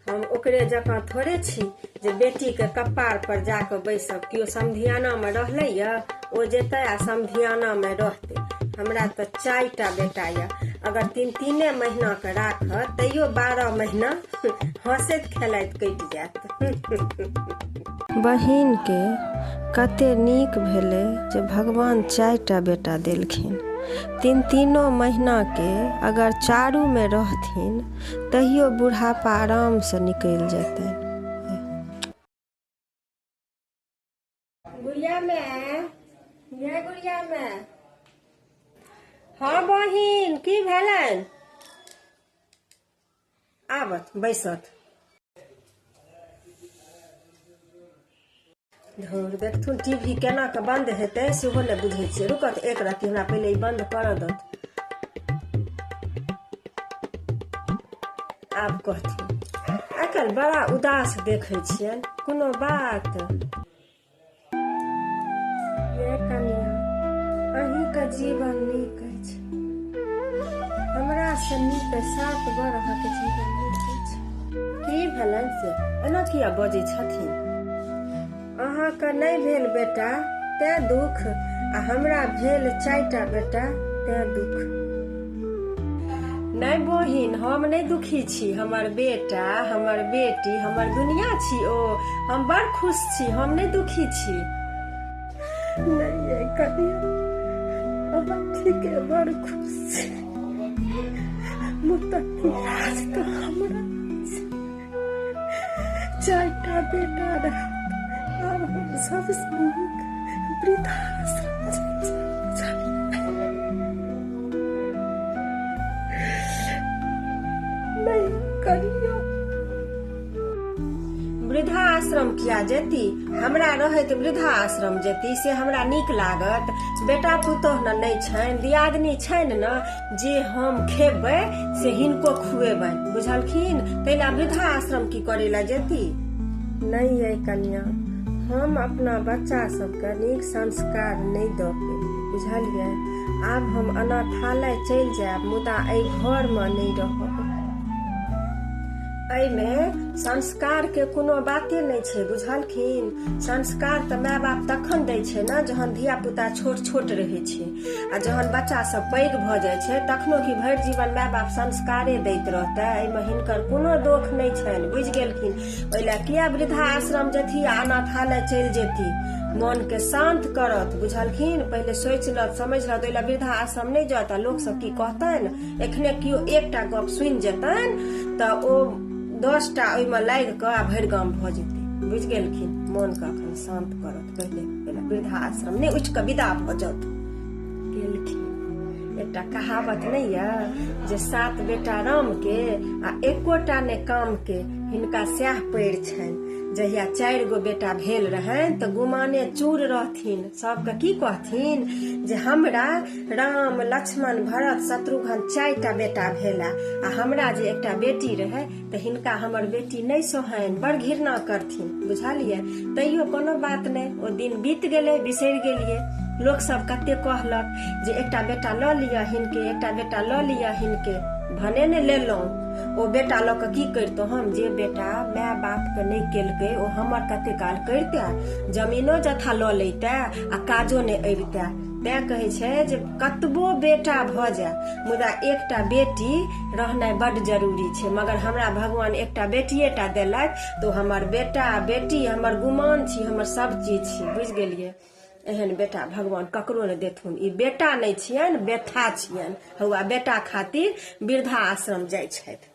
हम ओकरे जकाँ थोड़े छी जे बेटीके कपार पर जाके बैसब केओ समधियानामे रहलै यऽ ओ जेतै आ समधियानामे रहतै हमरा तऽ चारि टा बेटा यऽ अगर तीन तीने महीनाके राखत तैयो बारह महीना हँसैत खेलैत कटि जायत बहिनकेँ कते नीक भेलै जे भगवान चारि टा बेटा देलखिन। तीन-तीनो महिनाकेँ अगर चारूमे रहथिन तहियो बुढ़ापा आरामसँ निकलि जेतनि। गुड़िया माए, यै गुड़िया माए। हँ बहिन, की भेलनि? आबत बैसत धौर देखथुन टी वी केना कऽ बन्द हेतै सेहो नहि बुझै छियै रुकत एक रत्ती हमरा पहिले ई बन्द करऽ दत आब कहथिन आइ काल्हि बड़ा उदास देखै छियनि कोनो बात अहींके जीवन नीक अछि हमरा से नीक सात बर अहाँके जीवन नीक अछि की भेलनि से एना किया बजै छथिन अहाँके नहि भेल बेटा तैं दुख आ हमरा भेल चारिटा बेटा तैं दुख नहि बहिन हम नहि दुखी छी हमर बेटा हमर बेटी हमर दुनिया छी ओ हम बड़ खुश छी हम नहि दुखी छी नहि ठीके बड़ खुश छी मुतक हमरा चारिटा बेटा रहत आब हम सब स्नेहक वृद्धाश्रम चलि नहि करियौ वृद्धा आश्रम किया जेती हमरा रहैत वृद्धा आश्रम जेती से हमरा नीक लागत बेटा पुतोह ने नहि छनि दियादनी छनि ने जे हम खेबै से हिनको खुएबनि बुझलखिन ताहि लए वृद्धा आश्रम की करे लए जेती नहि अइ कन्या हम अपना बच्चा सबके नीक संस्कार नहि दऽ पेलियै बुझलियै आब हम अनाथालय चलि जायब मुदा एहि घरमे नहि रहब एहिमे संस्कारके कोनो बाते नहि छै बुझलखिन संस्कार तऽ माय बाप तखन दै छै ने जहन धिया पुता छोट छोट रहै छै आ जहन बच्चा सब पैघ भऽ जाइ छै तखनो कि भरि जीवन माय बाप संस्कारे दैत रहतै एहिमे हिनकर कोनो दोख नहि छनि बुझि गेलखिन ओहि लए किया वृद्धा आश्रम जेथी आ अनाथालय चलि जेती मन के शांत करत बुझलखिन पहिले सोचलत समझलत ओहि लए वृद्धा आश्रम नहि जात आ लोक सब की कहतनि एखने केओ एकटा गप सुनि जेतनि तऽ ओ दसटा ओहिमे लागि कऽ आ भरि गाम भऽ जेतै बुझि गेलखिन मोनके अखन शांत करत वृद्धाश्रम ने उठ के विदा भ जात गेलखिन एकटा कहावत नहीं है जे सात बेटा राम के आ एकोटा ने काम के हिनका सएह पड़ छनि जहिया चारि गो बेटा भेल रहनि तऽ गुमाने चूर रहथिन सबके की कहथिन जे हमरा राम लक्ष्मण भरत शत्रुघ्न चारिटा बेटा भेला आ हमरा जे एकटा बेटी रहै तऽ हिनका हमर बेटी नहि सोहनि बड़ घृणा करथिन बुझलियै तैयो कोनो बात नहि ओ दिन बीत गेलै बिसरि गेलियै लोक सब कते कहलक जे एकटा बेटा लऽ लिअ हिनके एकटा बेटा लऽ लिअ हिनके भने ने लेलहुँ ओ बेटा लऽ कऽ की करितहुँ हम जे बेटा माय बापके नहि केलकै ओ हमर कते काल करिते जमीनो जथा लऽ लैते आ काजो नहि अबिते तैं कहै छै जे कतबो बेटा भऽ जाय मुदा एकटा बेटी रहनाइ बड जरूरी छै मगर हमरा भगवान एकटा बेटिए टा देलथि तो हमर बेटा बेटी हमर गुमान छी हमर सब चीज छी बुझ गेलिए एहन बेटा भगवान ककरो ने देथुन ई बेटा नहि छियनि बेथा छियनि हौआ बेटा खातिर वृद्धा आश्रम जाइ छथि